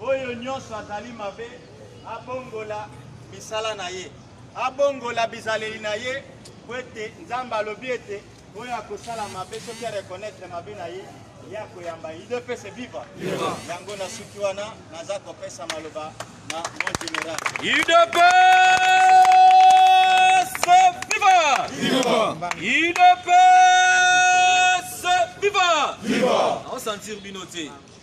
Oyo nyonso azali mabe abongola misala na ye, abongola bizaleli na ye, mpo ete Nzambe alobi ete oyo akosala mabe soki areconnaitre mabe na ye ye akoyamba ye idps viva yango nasuki wana naza kopesa maloba na mon général idps viva idps viva aosentir bino te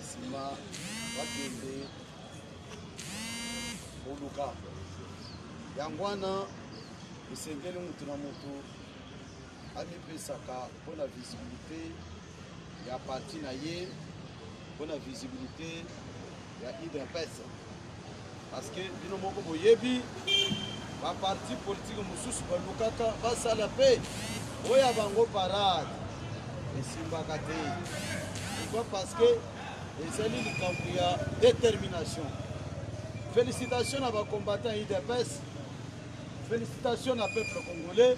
nsima bakende koluka yango wana esengeli moto na moto amipesaka mpo na visibilité ya parti na ye mpo na visibilité ya udps Parce que bino moko boyebi ba parti politique mosusu balukaka basala mpe oyo ya bango parade esimbaka te pourquoi parce que ezali likambo ya détermination félicitation na bacombattant idps félicitation na peuple congolais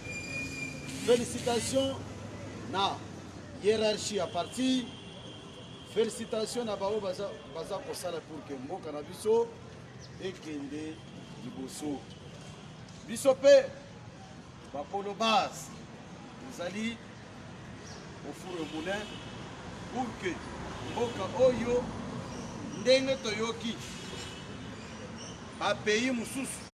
félicitation na hiérarchie ya parti Felicitations na baoyo baza, baza kosala pour que mboka na biso ekende liboso. Biso mpe bakolo base tozali ofuro moulin pour que mboka oyo ndenge toyoki bapays mosusu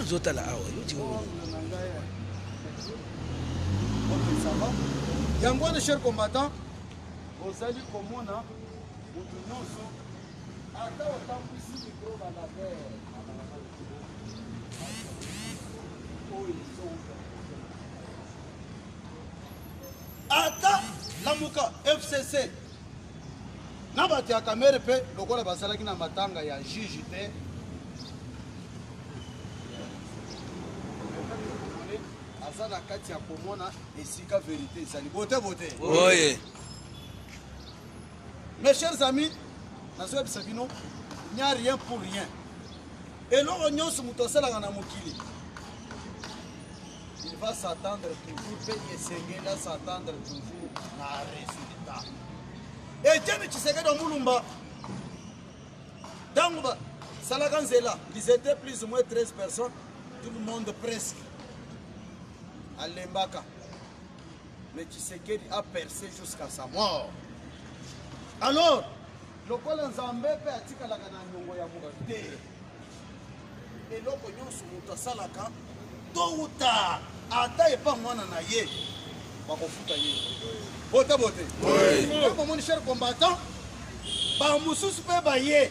ozotala awa yango wana cher combattant ozali komona moto nyonso ata otambwisi mikro balaver ata lamuka fcc na bato ya kamere mpe lokola bazalaki na matanga ya juge te aza na kati ya komona esika verite ezali bote bote oye mes chers amis nazoyebisa bino nya rien pour rien eloko nyonso moto asalaka na mokili Il va s'attendre toujours pe esengeli s'attendre toujours na resultat. Etienne Tshisekedi Mulumba ntango basalaka nzela ils étaient plus ou moins 13 personnes tout le monde presque alembaka mais Tshisekedi a percé jusqu'à sa mort alors lokola nzambe mpe atikalaka na nyongo ya moto te eloko nyonso moto asalaka to uta ata epa mwana na ye bakofuta ye bota bote omoni cher combattant bamosusu mpe baye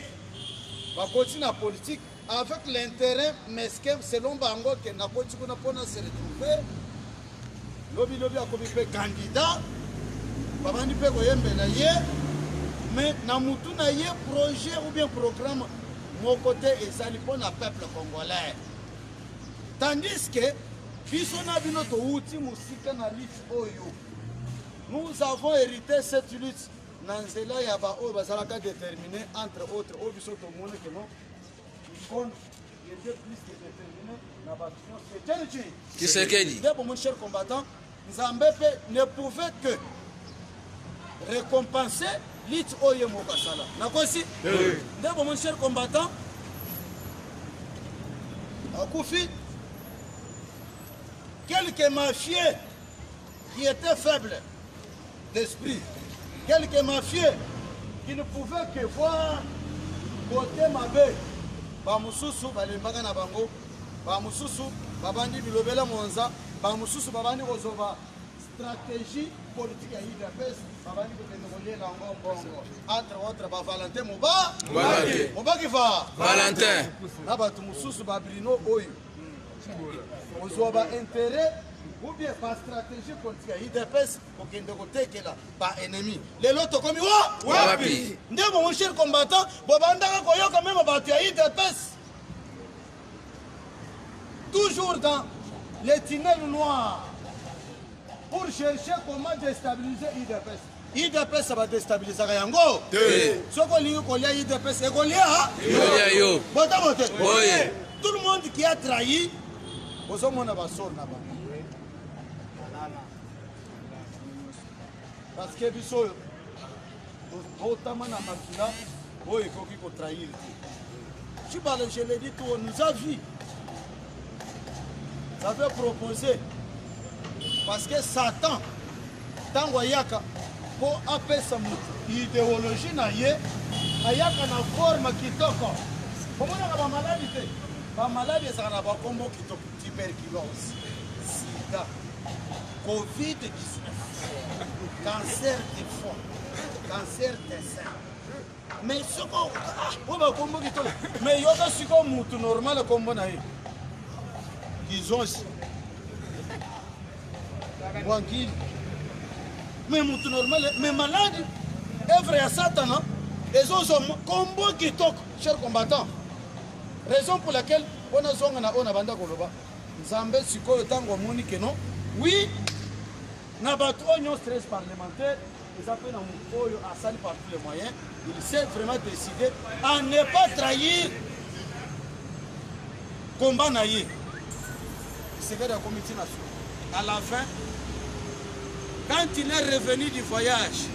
bakoti na politike avec l'intérêt mesquin selon bango ke nakoti kuna mpona se retrouver Lobi lobi akomi mpe candidat, babandi mpe koyembela ye, mais na mutu na ye projet ou bien programme moko te ezali mpo na peuple congolais. Tandis que biso na bino towuti mosika na lutte oyo. Nous avons hérité cette lutte na nzela ya baoyo bazalaka déterminer entre autres oyo biso tomoni keno Tshisekedi. Ndebo mon cher combattant, Nzambe pe ne pouvait que récompenser lutte oyo moko asala. Nakosi? Oui. Ndebo mon cher combattant, akufi quelques mafieux qui était faible d'esprit, quelques mafieux qui ne pouvaient que voir côté mabe, bamususu balembaka na bango, bamususu babandi bilobela mwanza, bamususu babandi kozoba stratégie politique ya udps babandi kokende kolela yango mbongo entre autres ba valentin moba mobaki va valentin na bato mosusu ba brino oyo kozwa ba intérêt ou bien ba stratégie politique ya udps kokende kotekela ba ennemi lelo tokomi wapi nde bongo cher combattant bobandaka koyoka meme bato ya udps toujours dans les tunnels noirs pour chercher comment déstabiliser udps udps badestabilisaka yango te soki olingi kolia udps ekolia yo botomo te tout le monde qui a trahi bozomona basor na bango parce que biso oyo botama na makila oyo ekoki kotrahir te cibale je le dis to nous a vie J'avais proposé parce que Satan ntango ayaka mpo apesa moto ideologie na ye ayaka na forme kitoko omonaka bamaladi te bamaladi ezalaka na bakombo kitoko tuberculose sida covid-19 cancer de foie cancer de sein Mais soko oyo bakombo kitoko mais yoka siko mutu normal akombo na ye kizonsi bwankili mais mutu normal mais maladi evre ya satana ezozwa kombo kitoko cher combattant raison pour laquelle mpo nazonga na oyo nabanda koloba nzambe sikoyo ntango amoni keno wi na bato oyo nyonso stress parlementaire eza mpe na moto oyo asali par tous les moyens il s'est vraiment décidé à ne pas trahir combat na ye kisekedi akomi ntina so à la fin quand il est revenu du voyage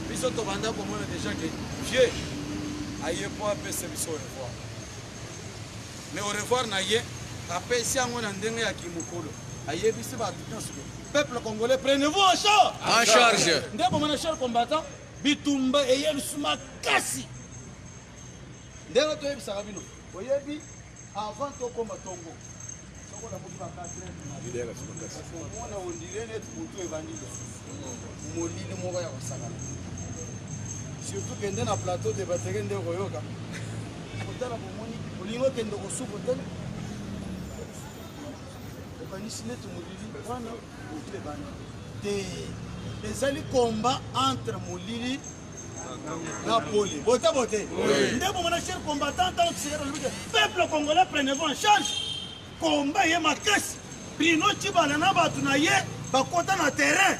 biso tobanda komona déjà ke vieux aye mpo apesa biso revoir Mais au revoir na ye apesi yango na ndenge ya kimokolo ayebisi bato nyonso peuple congolais prenez-vous en charge en charge nde bomona cher combattant bitumba eye lisusu makasi ndenge toyebisaka bino oyebi avant tokoma tongo sokola moki bakasi omona ondire neti motu ebandi lisusu molili moko ya kosakana surtout kende na plateau de bateke nde okoyoka otala bomoni olingi okende kosuko te okanisi neti molili wana molili ebanda te ezali komba entre molili na pole bote bote nde bomona cher combattant ntango tisekelo lobi te peuple congolais prenez vous en charge Combat ye makasi. Bruno Tshibala na bato na ye bakota na terrain.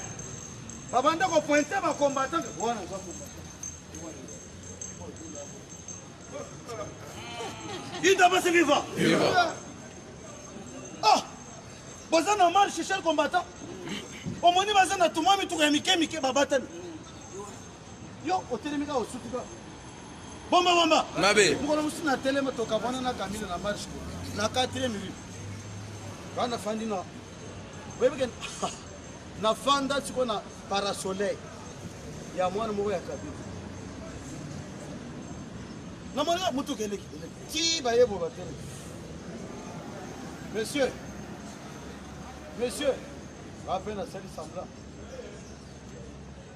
Babanda ko pointer ba combattants. Wana za combattant. Idabase viva. Viva. Ah. Boza na mal chercher le combattant. Omoni baza na tuma mituka ya mike mike babatani. Yo otelemi kaka osuki kaka. Bomba bomba. Mabe. Mukolo musu na telema toka bwana na Camille na marche ko. Na 4e minute. Bana fandi na. Wewe ken na fanda siko na parasoleil ya mwana moko ya Kabila. Na mwana mutu kende kende. Ti baye bo batele. Monsieur. Monsieur. Rappel na sali semblant.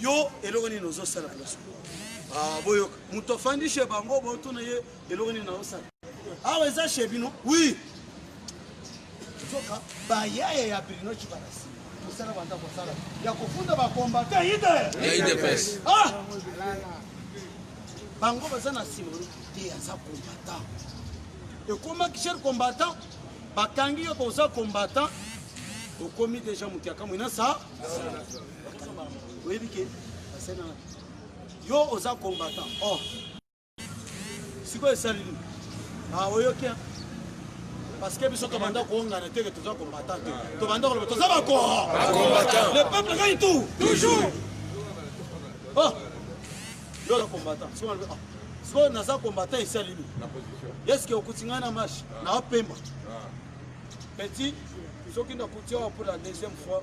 yo eloko nini ozosala place ah, boyoka moto afandi chez bango botuna ye eloko nini naosala awa ah, eza chez bino oui nzoka bayaya ya brino cibarasi mosala banda kosala ya kofunda bakombate idps ah! bango baza na nsima te aza combattant ekomaki cher combattant bakangi yo boza combattant okomi deja moto ya kamwina sa oyebi ke basena yo oza combattant oh sikoyo esali nini ah, oyoki parce que biso tobanda koongana te ke toza combattant te tobanda koloba toza bakoro le peuple gagne tout toujours oh yo oza combattant sikoyo naza combattant esali nini eske okuti ngai na marche naopemba ah. petit soki nakuti awa pour la deuxième fois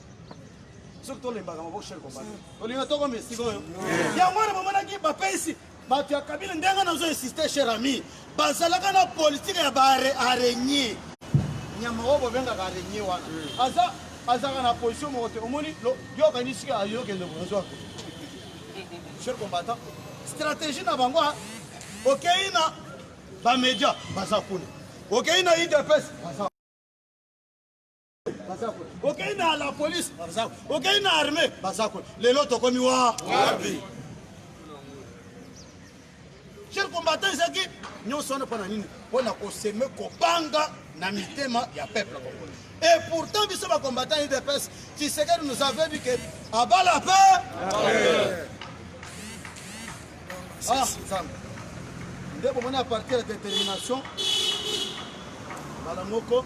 soki tolembaka maboko chef combat tolinga toko mais sikoyo yango wana bamonaki bapesi bato ya kabila ndenge nazo insiste cher ami bazalaka na politike ya baaraigne nyama oyo bobengaka araigne wana hmm. aza azalaka na position moko te omoni yokanisi ayokende kozwa cher combattant stratégie na bango okei na bamedia baza kuna okei na idps baza okei na la police baza okei na armée baza ko lelo tokomi wa wapi cher combattant ezalaki nyonso wana mpo na nini mpo na koseme kobanga na mitema ya peuple congolais et pourtant biso bacombattant udps tshisekedi nous avait dit que abala pe ah, nde bomoni à partir ya détermination mbala moko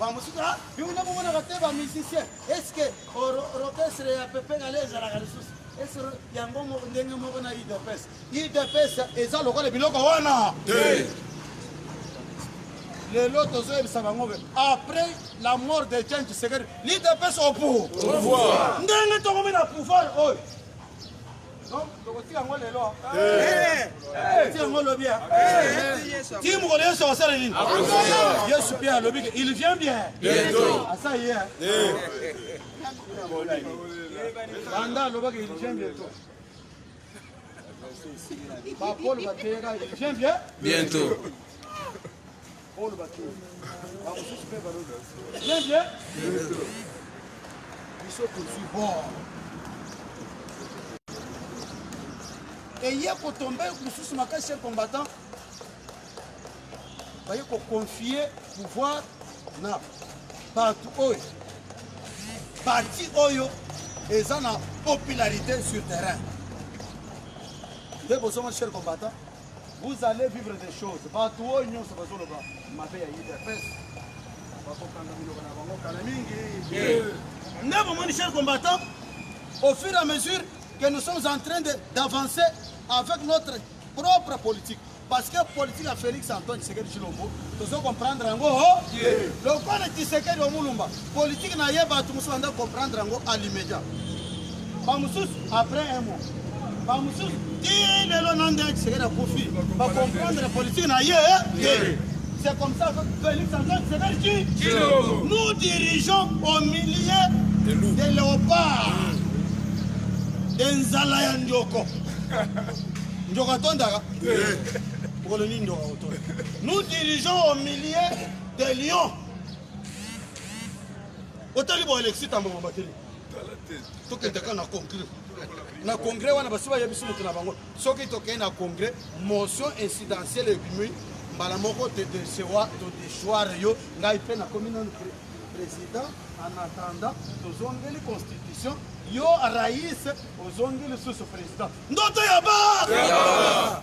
bamosusu ah, bino nde bomonaka te bamusicien eske orchestre ya pepe kale ezalaka lisusu ese yango ndenge moko na udps udps eza lokola biloko wana lelo tozoyebisa bango be après la mort de jan tshisekedi l'udps au pouvoir ndenge tokomi na pouvoir oyo il vient bien bientôt Paul Bakili. Bamosusu mpe balobi. Bien bien. Biso tozwi bor. Eye kotombe mosusu makasi cher combattant. Baye koconfie pouvoir na bato oyo parti oyo eza na popularité sur terrain nde bozongo cher combattant Vous allez vivre des choses. Bato oyo nyonso bazoloba mabe ya UDPS bakokanga biloko na bango kala mingi. Nde bomoni cher combattant, au fur et à mesure que nous sommes en train d'avancer avec notre propre politique. Parce que politique ya Félix Antoine Tshisekedi Tshilombo, tozo comprendre yango. Lokola Tshisekedi omulumba Politique na ye bato mosusu banda comprendre yango à l'immédiat. Ba mosusu après un mois. Ba mosusu ti lelo na nde Tshisekedi akufi ba comprendre politique na ye te. C'est comme ça que Félix Antoine Tshisekedi dit nous dirigeons au milieu des léopards des nzala ya ndioko. Ndioko atondaka mokolo nini ndioko akotonda? Nous dirigeons au milieu des lions. otali bo alexi tambo bobateli tokende kaka na congrès na congrès wana basi bayebisi moto na bango soki tokei na congrès motion incidentielle ebimi mbala moko todesewa todeshoire yo ngai mpe nakomi nanu président en attendant tozongeli constitution yo rais ozongi lisusu président ndoto ya ba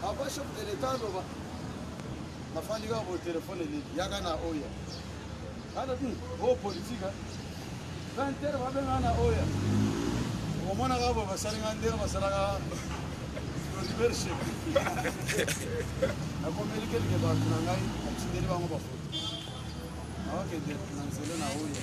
Papa chef de l'Etat aloba nafandi kaka bo telefone nini yaka na oya ana ti o oh, politika 20 heures babenga na oya omona kaka bo basali nga ndenge basalaka leadership nakomeli kelke bato na ngai natindeli bango bafoto nawakende na nzela na oya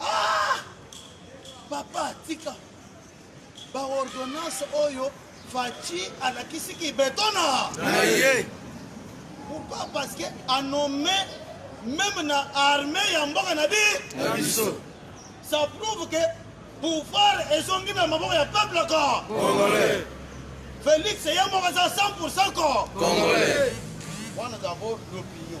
Ah! Papa, tika. Ba ordonnance oyo Fatshi alakisi ki betona. Na ye. Pourquoi? Parce que a nommé même na armée ya mboka na bi. Na biso. Ça prouve que pouvoir ezongi na maboko ya peuple ko. Congolais. Felix ye moko aza 100% ko. Congolais. Wana d'abord l'opinion.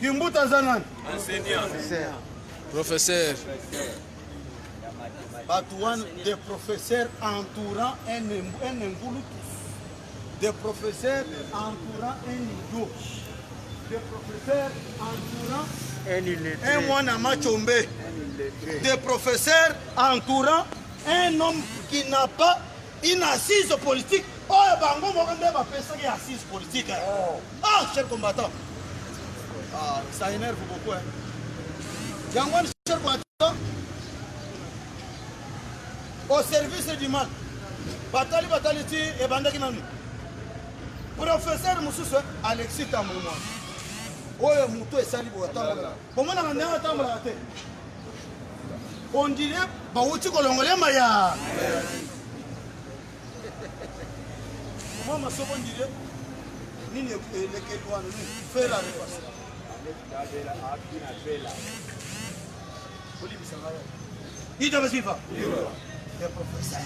Kimbuta aza nani? Enseignant. Professeur. Bato wana des professeurs entourant un un engulutus. Des professeurs entourant un idiot. Des professeurs entourant un illettré. Un mwana machombe. Des professeurs entourant un homme qui n'a pas une assise politique. Oh, bango moko nde bapesaki assise politique. Oh. Ah, cher combattant. Ah, ça énerve beaucoup. Hein. Yangon, cher combattant, au service du mal. Batali batali ti ebandaki nanu. Professeur Moussousou, Alexis Tambouma. oyo moto esali boye atambola bomonaka ndenge atambolaka te ondire bawuti kolongola ema ya Mwa masoko ndire nini elekeli wana nini fela repasa olibisa ngai ito basifa ya professeur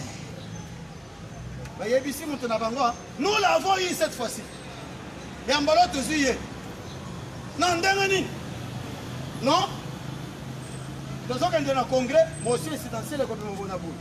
bayebisi moto na bango ah, nous l'avons eu cette fois-ci ya mbolo tozwi ye na ndenge nini non tozokende na congrès motion esidentiele ekobima mpona boye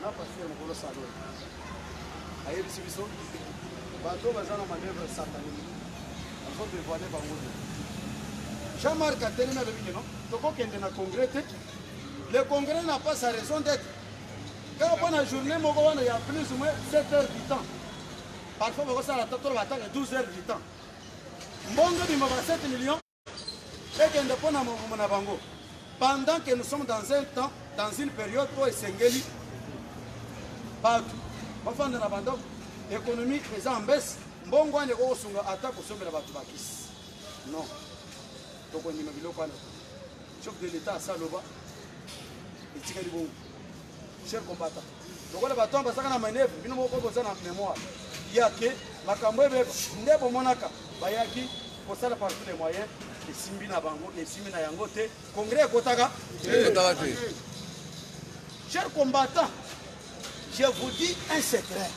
na pasi ya mokolo salo ayebisi biso bato baza na manœuvre satanique bazo devoile bango te jean marc atelemi alobi keno tokokende na congrès te le congrès na pas sa raison d'être kaka mpo na journée moko wana ya plus ou moins 7 heures du temps parfois bakosala toloba ataka 12 heures du temps mbongo ebima ba 7 millions ekende mpo na movumo na bango pendant que nous sommes dans un temps dans une période oyo esengeli bato bafanda na bandako économie eza en baisse mbongo wana ekoki kosunga ata kosombela bato bakisi non tokondima biloko wana chef de l'état asaloba etikali bongo cher combattant lokola bato wana bazaka na manevre bino moko boza na memoire ya ke makambo ebeba nde bomonaka bayaki kosala par tous les moyens esimbi na bango esimbi na yango te congrès ekotaka te cher combattant je vous dis un secret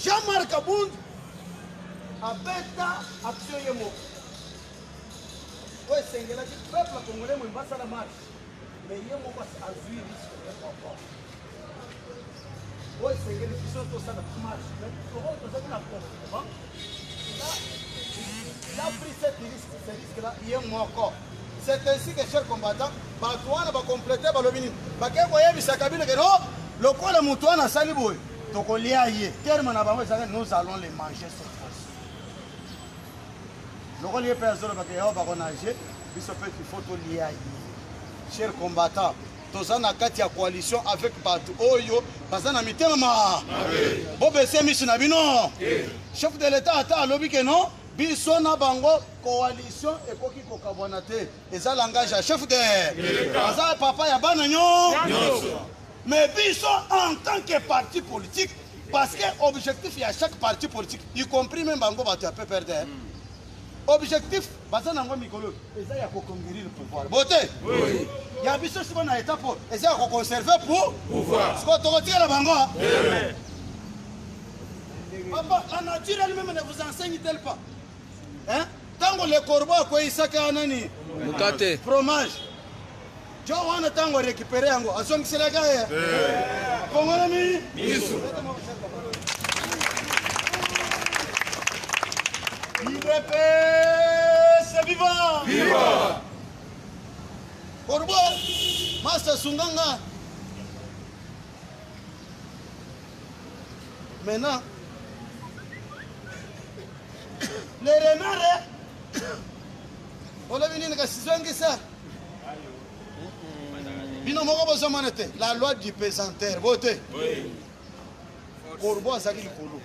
jean-marc abund abeta action ye moko oyo esengelaki peuple congolais moyimbo asala marche mais ye moko azwi risque ya papa oyo esengeli biso tosala marche mais oyo tozali na comportement il a pris cette risque ce risque là ye moko c'est ainsi que cher combattant bato wana bacomplete balobi nini bakei koyebisa kabila ke no lokola moto wana asali boye tokolia ye terme na bango ezalaki nous allons le manger cette fois-ci lokola ye mpe azolobaka yao bakonage biso mpe ifo tolia ye cher combattant toza na kati ya coalition avec bato oyo baza na mitema ma bobese miso na bino chef de l'etat ata alobi ke non biso na bango coalition ekoki kokabwana te eza langage ya chef de aza papa ya bana nyonso Mais biso en tant que parti politique parce que objectif ya chaque parti politique y compris même bango bato ya PPRD hein. objectif baza nango mikolo eza ya koconquérir pouvoir bote oui. ya biso siko na état po eza ya koconserve pour pouvoir siko tokotikela bango eh. papa la nature elle-même ne vous enseigne tel pas hein? Tango le corbeau akweyisaki a nani mukate fromage jo wana tango arekipere yango azongiselaki ye kongolami misu udps viva viva corbeau masta sunganga Maintenant, le renard, olobi nini kasi zongisa bino moko bozomona te la loi du pesanteur bo te korbo azalaki likolo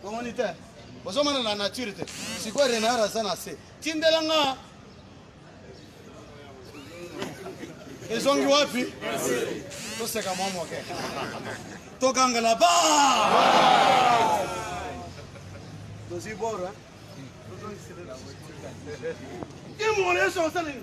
omoni te bozomona na nature te sikoyo renard aza na se tindelanga ezongi wapi toseka mwa moke togangela ba tozwi bora imona yesu asaleli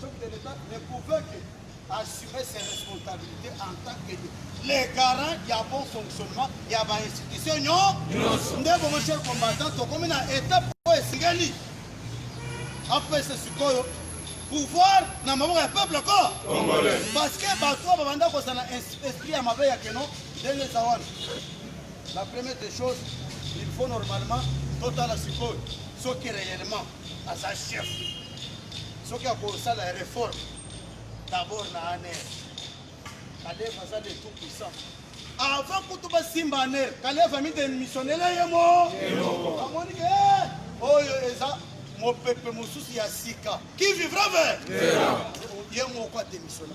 chef de l'État ne pouvait que assumer ses responsabilités en tant que les garants ya bon fonctionnement ya ba institution nyonso nde bongo cher combattant tokomi na étape oyo esengeli apesa sikoyo pouvoir na maboko ya peuple ko parce que bato oyo babanda kozala esprit ya mabe ya keno ndenge eza wana la première des choses il faut normalement totala sikoyo soki réellement aza chef soki akosala reforme d'abord na aner kaleva aza de tout puissant avant kutu basimba aner kaleva midemissionnela ye mo amoni ke eh, oyo eza mopepe mosusu ya sika qui vivra ver ye moko ademissionna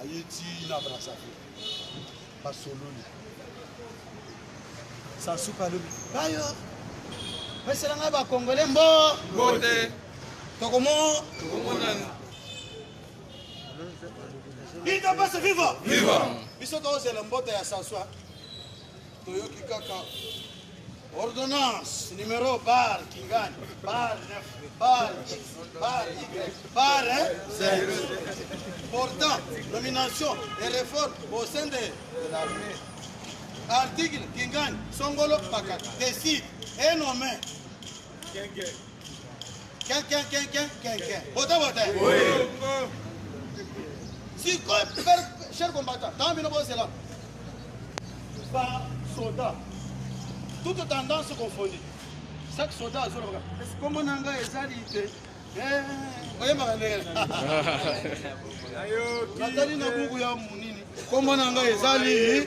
aye ti na brazzaville basololi sasuka alobi bayo pesela ngai bakongole mbo mbote tokomo tokomonana biso biso viva viva biso tozela mbote ya sasua toyoki kaka ordonnance numero bar kingani bar 9 bar x bar y bar 5 portant nomination et réforme au sein de l'armée article kingani songolo pakata décide et nommé Ken ken ken ken ken ken. Bota bota. Oui. Si quoi per cher combattant, tant bino bo zela. Ba soda. Toute tendance confondue. Chaque soda azoloka. Est-ce que mon anga ezali te? Eh, oyemaka ndenge. Ayo. Natali na buku ya munini. Kombo na ngai ezali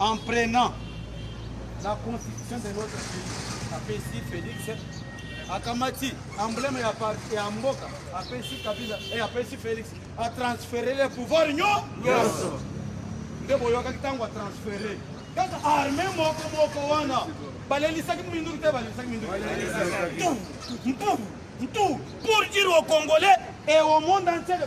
en prenant la constitution de notre pays apesi Felix akamati emblème ya parti ya mboka apesi Kabila et eh, apesi Felix a transférer le pouvoir nyonso nde boyokaki ntango atransfere kaka arme moko moko wana balelisaki minduki te balelisaki minduki mtu mtu mtu pour dire au congolais et au monde entier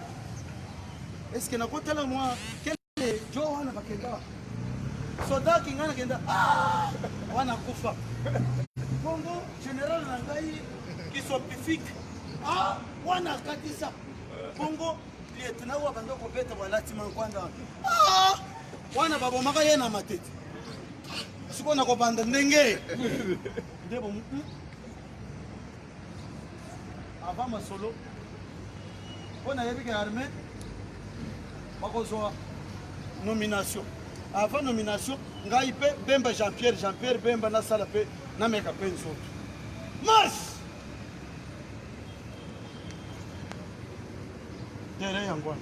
Est-ce que nakotala mwa kele jo wana bakenda soda kinga nakenda ah! wana kufa bongo general na ngai kisopifike ah! wana akatisa bongo lietna oyo abanda kobeta balati mankwanda ah! wana babomaka ye na matete sikoyo nakobanda ndenge nde avant masolo mpo nayebi ke arme bakozwa nomination avant nomination ngai mpe bemba jean pierre jean pierre bemba nasala mpe nameka mpe nzoto marche terrain yango wana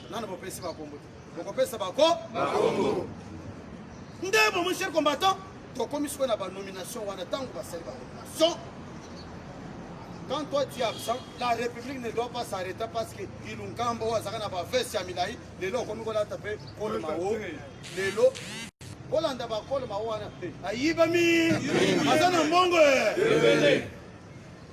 nana bopesi bakombo te bokopesa bako bakombo ndemo mon cher combattant tokomi sikoyo na banomination wana ntango basali banomination quand toi tu es absent la république ne doit pas s'arrêter parce que ilunkambo oyo azalaka na baveste ya milai lelo okomi kolata mpe kolo mao lelo kolanda bakolo mao wana te ayibami aza na mbongo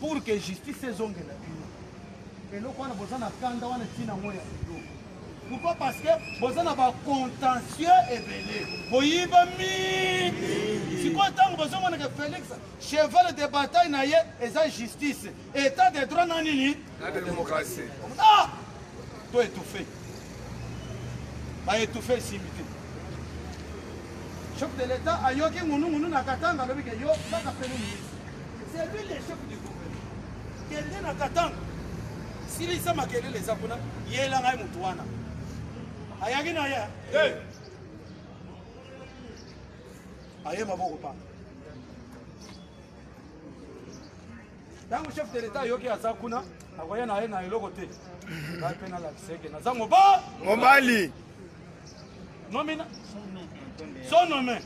Pour que justice ezongela bino. Eloko wana boza na kanda wana tina ngo ya bino. Pourquoi parce que boza na ba contentieux ebele. Boyiba mingi. Sikoyo ntango bozomona ke Felix cheval de bataille na ye eza justice. État de droit na nini? Na démocratie. Ah! To étouffé. Ba étouffé esimbi te. Chef de l'État ayoki ngunungunu na Katanga alobi ke yo kaka pele ministre. C'est lui le chef du gouvernement. Kende na Katanga. Silisa makelele eza kuna yela ngai motu wana ayaki na ye eh. aye maboko pa ntango chef de l'etat ayoki aza kuna akoya na ye na eloko te ngai mpe nalakiseke naza moba mobali nomina sonome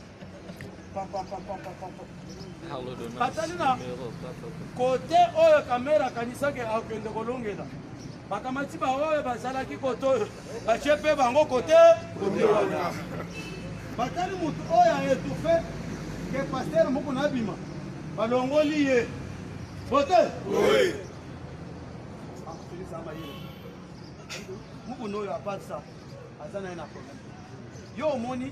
batali na kote oyo kamera akanisaki akende kolongela bakamati baoyo bazalaki kote oyo batie mpe bango kote batali motu oyo aetufe ke paster moko nabima balongoli ye bote mokuna oyo apasa aza na ye na problème yo omoni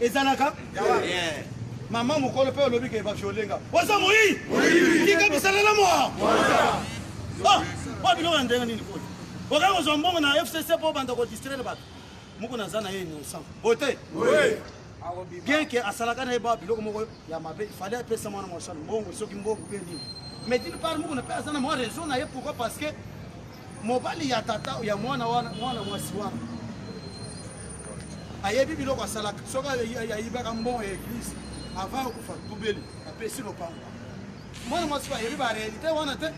ezalaka mama mokolo mpe olobi ke baviolenga oza moi tika bisalela moa ah, oyo biloko ya ndenge nini koi okaka kozwa mbongo na fcc mpo obanda kodistraire bato moko naza na ye innocent boye te bien ke asalaka na ye ba biloko moko ya mabe ifale apesa mwana mwasano mbongo soki mbongo mpe nini mais dine part moko na mpe aza na mwa raison na ye pourquoi parce que mobali ya tata ya mwana wana mwana mwasi wana ayebi biloko asalaka soki ayibaka mbongo ya eglise avant okufa tubeli apesi lopango mwana mwasi ayebi barealité wana te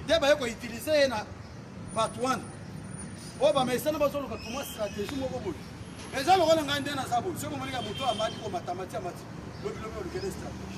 nde baye koutilize ye na bato wana oyo bamesana bazoluka tuma stratégie moko boye eza lokola ngai nde naza boye soki omoneka moto amati komatamati amati lobilobi olukele stratégie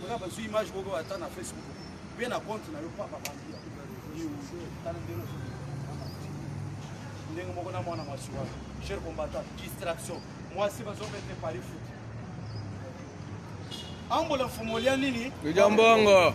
Kuna bazui image moko ata na Facebook. Pe na compte na yo papa bandi. Ndenge moko na mwana mwasi wana. Cher combattant, distraction. Mwasi bazobete pari foot. Ambola mfumo lya nini? Lya mbongo.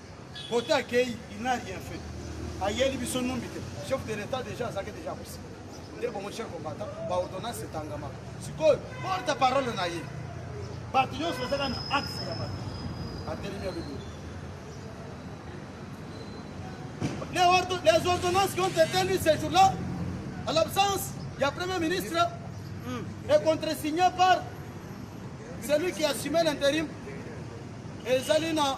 Kote akeyi il n'a rien fait. Ayeli biso numbi te. Chef de l'État déjà azaki déjà kosi. Nde bongo cher combattant ba ordonnance etangama. Sikoyo porte parole na ye. Bato nyonso ezaka na axe ya bato. Atelemi ya bebe. Les ordonnances qui ont été lues ce jour-là, à l'absence, il y a Premier ministre, et hmm. contre-signé par celui qui assumait l'intérim, et Zalina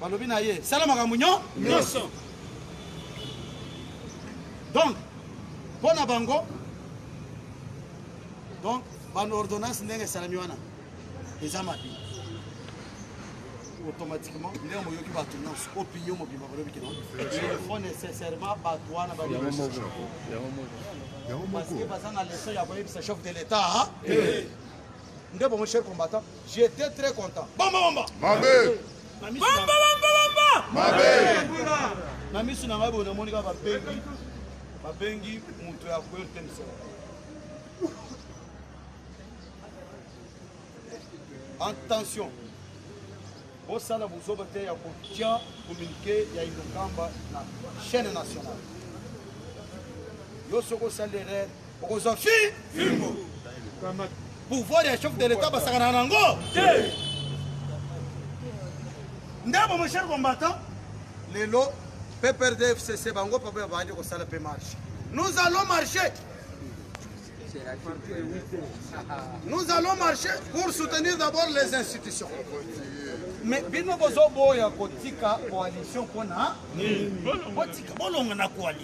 balobi na ye sala makambo nyonso donc mpo na bango donc baordonnance ndenge esalami wana eza mabe automatiquement ndenge moyoki bato nyonso opinion mobimba balobi kino il faut nécessairement bato wana parce que baza na leson ya koyebisa chef de l'état Nde bongo cher combattant, j'étais très content. Bomba bomba. Mabe. Bomba bomba bomba. Mabe. Na misu na ngai bona moni kaka babengi babengi moto ya kueur te misala. Attention. bosala bozoba te ya kotya komunike ya inokamba na chaîne nationale yo soki osali erreur okozwa fi fimbo pouvoir ya chef de l'etat basakana nango te ndambo mon cher combattant lelo pprd fcc bango papa ya baandi kosala mpe marche nous allons marcher nous allons marcher pour soutenir d'abord les institutions mais bino bozoboya kotika coalition mpona botika bolonga na coalition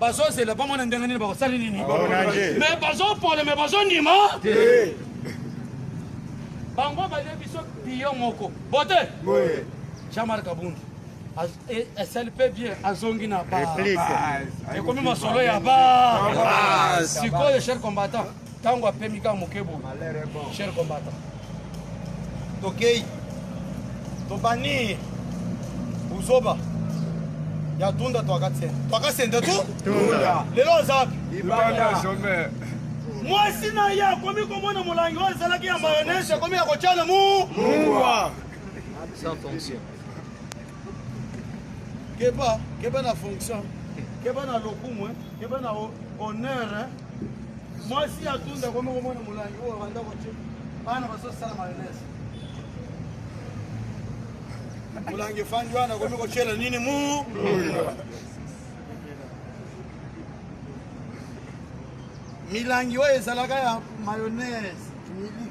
bazozela bamona ndenge nini bakosali nini me bazopole me bazondima bango balie biso biyo moko bote jean-marc abundu esali mpe bien azongi na ba ekomi masolo ya ba sikoyo cher combattant Tango apemi kaka moke boye. Cher combattant. Tokei. Tobani. Buzoba. Ya tunda twaka tsende. Twaka sende tu? Tunda. Lelo oza wapi? Ibanda. Mwasi na ye akomi komona molangi oyo ezalaki ya mayonnaise akomi ya kotyana mu. Mungwa. Sans fonction. keba keba na fonction keba na lokumu eh. keba na honneur eh. mwasi ya tunda komi komona molangi oyo banda koce bana bazosala mayonnaise molangi efandi wana komi kocela nini mu milangi oyo ezalaka ya mayonnaise miliki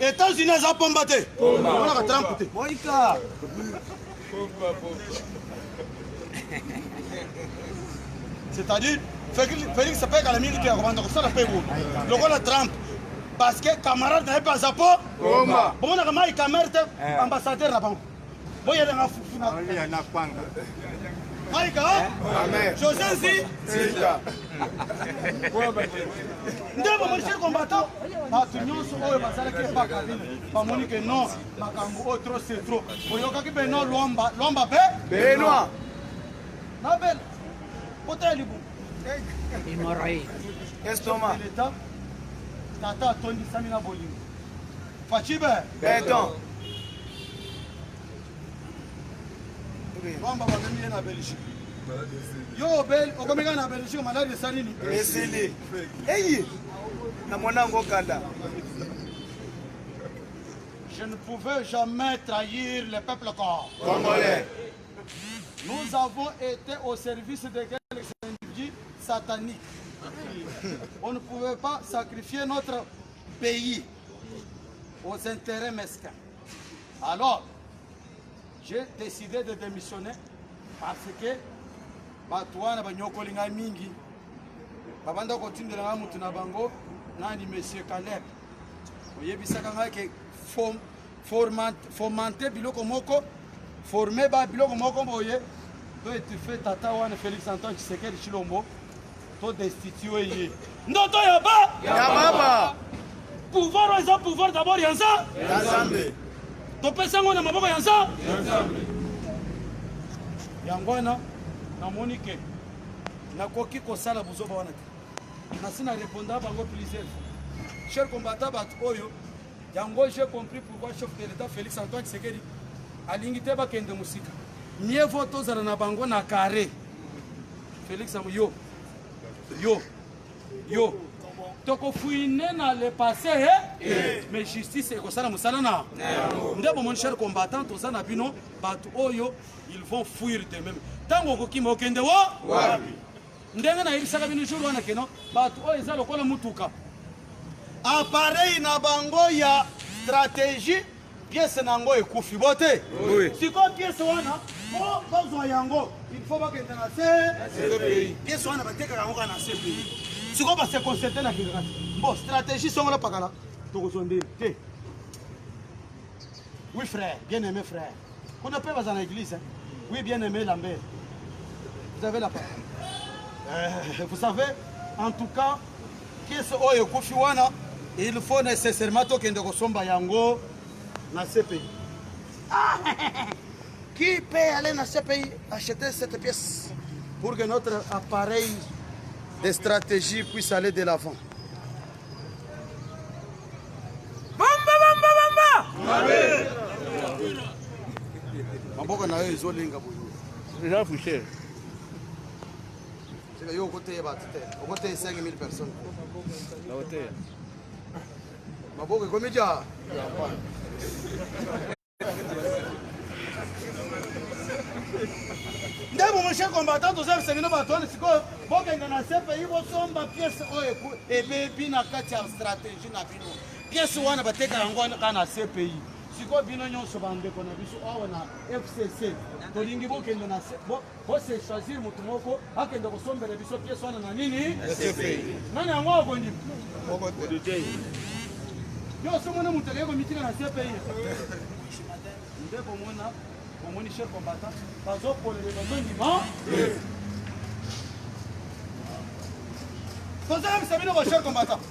Etats-Unis aza pomba te. Omonaka Trump te. Moika. Pomba pomba. C'est-à-dire Felix pe kala mingi te akobanda kosala pe bo. Lokola Trump parce que camarade na ye pe aza po. Pomba. Bomonaka Mike Kamerhe te eh. ambassadeur na bango. Boya na nga fufu na. Boya na kwanga. Maika. Amen. José Zi. Sita. Nde ba policier combattant. Bato nyonso oyo bazalaki epaka bino bamoni ke non makambo oyo trop c'est trop boyokaki beno lwamba lwamba be benoa na bela kota ya libumu estomac tata atondisami na bolingo Fachibe. Beton. Bamba bamemi ye na Belgique. Yo obel okomeka na Belgique malade esali nini? Esili. Eyi. Na mwana yango kanda. Je ne pouvais jamais trahir le peuple congolais. Nous avons été au service de quelques individus sataniques. On ne pouvait pas sacrifier notre pays aux intérêts mesquins. Alors, j'ai décidé de démissionner parce que bato wana banyokoli ngai mingi babanda kotindela ngai motu na bango nani monsieur caleb oyebisaka ngai ke fomente biloko moko forme ba biloko moko boye to etufe tata wana félix antoine tshisekedi tshilombo To destituer ye. Ndoto ya ba. Ya baba. Pouvoir oyo eza pouvoir d'abord ya nza. Ya Nzambe. Topesa yango na maboko ya nza. Ya Nzambe. Yango wana namoni ke nakoki kosala buzoba wana te. Nasi na reponda bango plusieurs. Cher combattant bato oyo yango j'ai compris pourquoi chef de l'État Félix Antoine Tshisekedi alingi te bakende mosika. Mieux vaut tozala na bango na carré. Felix yango yo yo yo tokofouine na le passé eh? eh. mais justice ekosala mosala na nde bomoni cher combattant toza na bino bato oyo ils vont fuir de même ntango okokima okende wo ndenge nayebisaka bino jour wana keno bato oyo eza lokola motuka apareil na bango ya stratégie pièce na yango ekufi bo te sikoyo pièce wana po bazwa yango il faut bakende na cpi pièce wana batekaka yango kaka na cpi sikoyo base concerte na kingakati bo stratégie songola pakala tokozwa nde te oui frère bien aimé frère kuna mpe baza na église hein? oui bien aimé lambert vous avez la parole euh, vous savez en tout cas Kisi oyo ekufi wana il faut nécessairement tokende kosomba yango na CPI. Ah, qui peut aller na CPI acheter cette pièce pour que notre appareil de stratégie puisse aller de l'avant. Bamba bamba bamba. Amen. Maboko na yo ezolenga boye. Eza fouché. Sika yo okoteya bato te, okoteya 5000 personnes. Nakoteya. Maboko ekomi ja. ndeko moshe combattant toza bisengeli bato wana sikoyo bokende na cpi bosomba piese oyo ebebi na kati ya stratégie na bino piese wana bateka yango wana kaka na cpi sikoyo bino nyonso bandeko na biso awa na fcc tolingi bokende na Bo se choisir mutu moko akende kosombela biso pièce wana na nini? Nani yango akondima? Yo osomona mutu akei komitika na CPI. Nde komona omoni chef combattant bazokolele bazondima tozoyebisa bino bachef combattant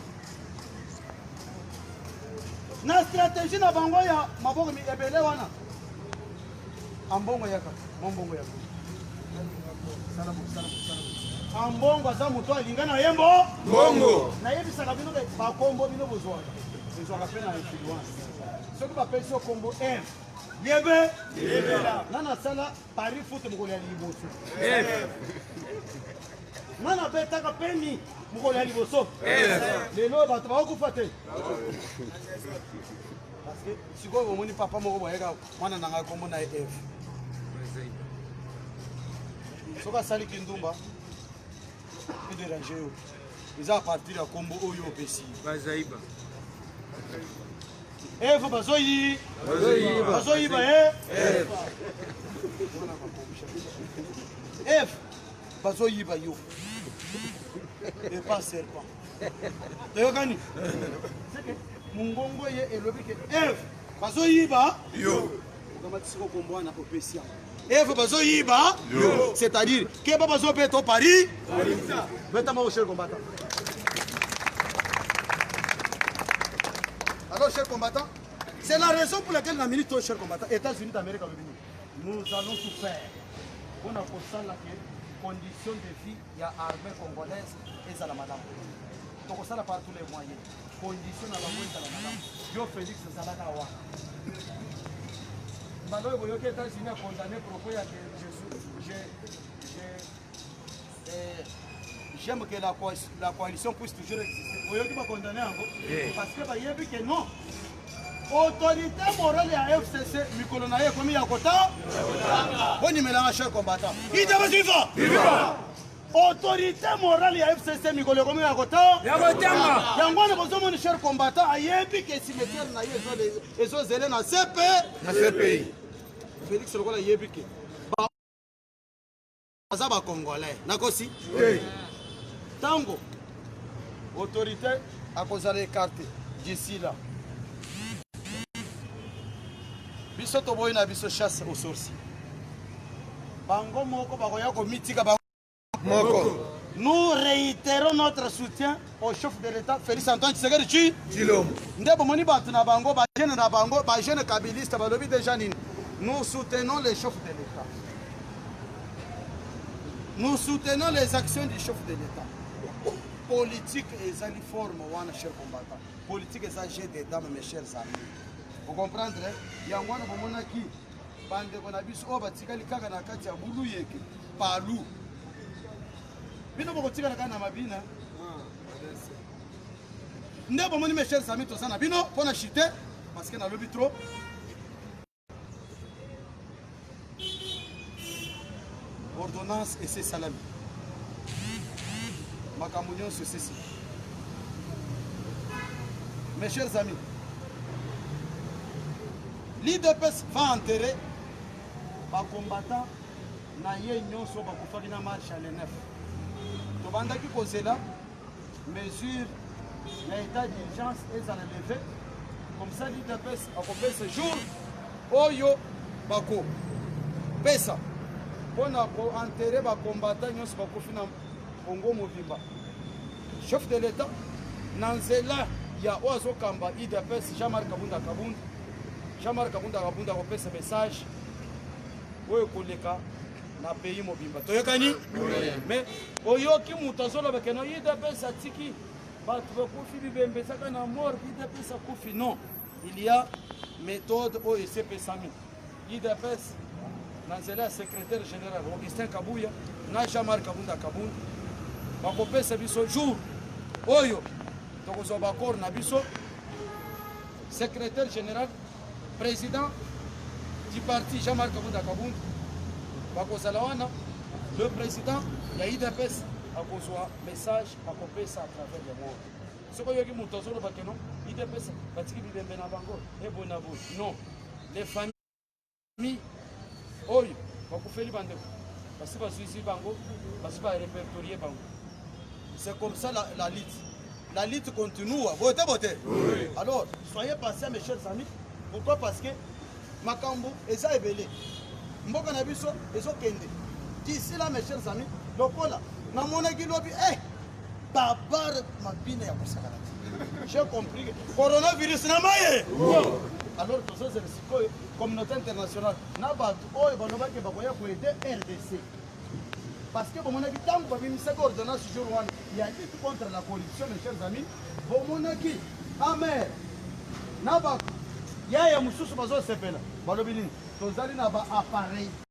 na stratégie na bango ya maboko ebele wana Ambongo yaka mwa mbongo ya boni sala bo sala bo sala bo ambongo aza moto alinga na ye mbo mbongo nayebisaka bino bakombo bino bozwaka ezwaka mpe na influence soki bapesi yo kombo m yebe nga nasala paris foot mokolo ya liboso nga nabetaka peni mokolo ya liboso lelo bato bakokufa te sikoyo omoni papa moko boyeka mwana na ngai kombo na ye eve soki asali kindumba ederange yo eza apartir ya kombo oyo opesi bazaiba eve bazoyi bazoyiba ye eh? eve bazoyiba yo epa serpent toyokani mongongo ye elobi ke eve bazoyiba yo okamatisi kokombo wana opesi yango evo bazoyiba yo c'est-à-dire keba bazobeta o paris beta moko cher combattant alors cher combattant c'est la raison pour laquelle na minute oyo cher combattant états-unis d'amérique alobi nini nous allons tout faire mpo na kosala ke condition de vie ya armée congolaise ezala malamu tokosala par tous les moyens condition na bango ezala malamu yo félix ozalaka wana mbala oyo boyoki états-unis acondamne propos ya ke eh, j'aime que la, co la coalition puisse toujours exister boyoki bacondamne yango parce que bayebi ke non autorité morale ya fcc mikolo na ye ekomi ya kota bonimelanga cher combattant idabasifa autorité morale ya fcc mikolo ekomi ya kotanga yango wana bozomoni cher combattant ayebi ke cimetière na ye ezozele na cpe na cpi félix lokola ayebi ke baza bacongolais nakosi ntango autorité akozala ekarte d'ici là biso toboyi na biso chasse au sorcier bango moko bakoya komitika bango moko nous réitérons notre soutien au chef de l'état félix antoine tshisekedi chi tshilombo nde bomoni bato na bango bajeune na bango bajeune kabiliste balobi déjà nini nous soutenons le chef de l'état Nous soutenons les actions du chef de l'État. Politique ezali forme wana cher combattant. Politique eza jeu des dames mes chers amis. Vous comprendre? Yango wana bomonaki bandeko na biso oyo batikali kaka na kati ya bulu yeke palu. Bino bokotikala kaka na mabina. Nde bomoni mes chers amis toza na bino mpo na chute parce que nalobi trop ordonnance esi esalami makambo nyonso esisi mes chers amis l'idps va enterrer bacombattant na ye nyonso bakufaki na marche ya le 9 tobandaki kozela mesure na état d'urgence ezala leve comme ça l'udps akopesa jour oyo bakopesa mpo na koentere bakombata nyonso bakufi na congo mobimba chef de l'état na nzela ya oyo azokamba udps jean marc kabunda kabunda jean marc kabunda kabunda akopesa message oyo ekoleka na pays mobimba toyokani mais oyoki moto azoloba keno udps atiki bato bakufi bibembe ezaka na mort udps akufi non il y a méthode oyo esepesami udps na nzela ya secrétaire général augustin kabuya na jean marc kabunda kabunda bakopesa biso jour oyo tokozwa baaccord na biso secrétaire général President du parti Jean-Marc Kabunda Kabund bakozala wana le président ya udps akozwa message akopesa à travers le monde soki oyoki moto azoloba keno udps batiki bibembe na bango eboye na boye non les familles mi oyo bakufeli bandeko basi bazuizi bango basi barepertorie bango c'est comme ça la, la lutte la lutte continue bote bote oui. alors soyez patient mes chers amis pourquoi parce que makambo eza ebele mboka na biso ezokende d'ici là mes chers amis lokola namonaki lobi eh, babare mabina ya kosakana te j'ai compris coronavirus na maye alors tozozela communauté internationale na bato oyo balobaki bakoya koede rdc parce que bomonaki ntango babimisaki ordonnance jour wana ya lutte contre la corruption mes chers amis bomonaki amer na bato yaya mosusu bazosepela balobi nini tozali na baappareil